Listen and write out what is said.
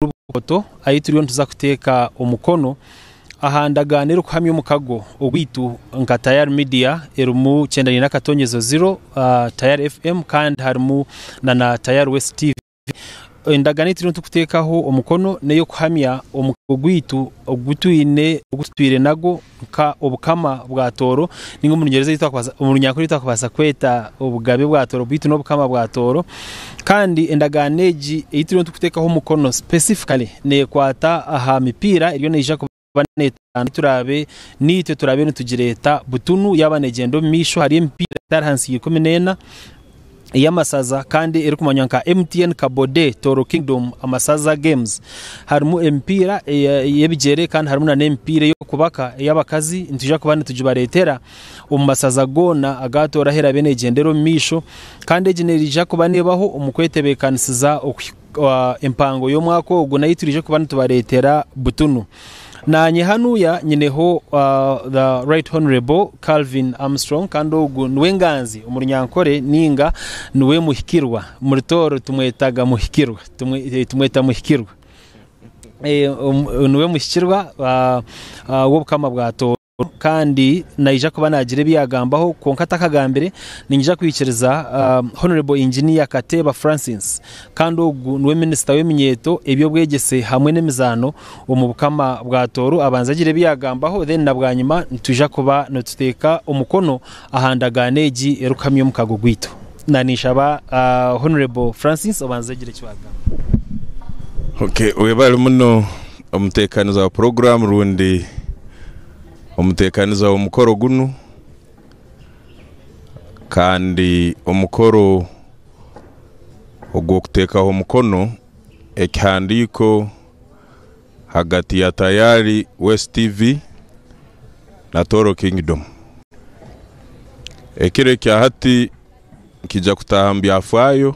omu bukoto ahi turiyo nituza kuteeka omukono aha ndagaano erikuhamya omukago ogwaitu nka Tayari Media erimu Kyendaine n'akatonyezo ziro, Tayari FM kandi harimu na na Tayari West TV. Endagaano ei turiyo nitukuteekaho omukono n'ey'okuhamya omukago gwaitu ogu twine ogu tutwire nagwo. Nka Obukama bwa Tooro, ninga omu Runyankore ebi twakubaasa kweta Obugabe bwa Tooro beitu n'Obukama bwa Tooro. Kandi endagaano egi ei turiyo nitukuteekaho omukono specifically neekwata aha mipiira eriyo neija kuba neetambura turaabe naitwe turaabe nitugireeta butunu yaaba neegyenda omu maisho. Hariyo emipiira etari ahansi y'eikumi n'ena. ey'amasaza kandi erikumanywa nka MTN Kabode Toro Kingdom Amasaza Games. Harimu emipiira ey'ebigyere kandi harimu n'emipiira ey'okubaka ey'abakazi nitwija kuba nitugibareetera omu masaza goona agaatooraho eraabe neegyendera omu maisho kandi egi neija kuba neebaho omu kwetebeekanisiza okuhika empango y'omwaka ogu n'ahu turaije kuba nitubareetera butunu. Naanye hanuya nyineho the Right Honourable Calvin Armstrong kandi ogu niwe nganzi omu Runyankore ninga niwe muhikirwa. Omuri Tooro tumwetaga muhikirwa, tumweta muhikirwa. Niwe muhikirwa w'Obukama bwa Tooro. kandi naija kuba naagira ebi yaagambaho kwonka atakagambire ninyija kwikiriza Honourable Engineer Kateeba Francis kandi ogu niwe Minisita w'eminyeeto, eby'obwegyese hamwe n'emizaano omu Bukama bwa Tooro abanze agire ebi yaagambaho then na bwanyima nitwija kuba nituteeka omukono aha ndagaano egi erikuhamya omukago gwaitu. Ninshaba Honourable Francis obanze ogire eki waagamba. Okay, weebare muno. Omuteekaniza wa puroguraamu rundi omuteekaniza w'omukoro gunu kandi omukoro ogw'okuteekaho omukono ekihandiiko ahagati ya Tayari West TV na Toro Kingdom. Ekiro ekya hati nikiija kutaaha omu byafaayo.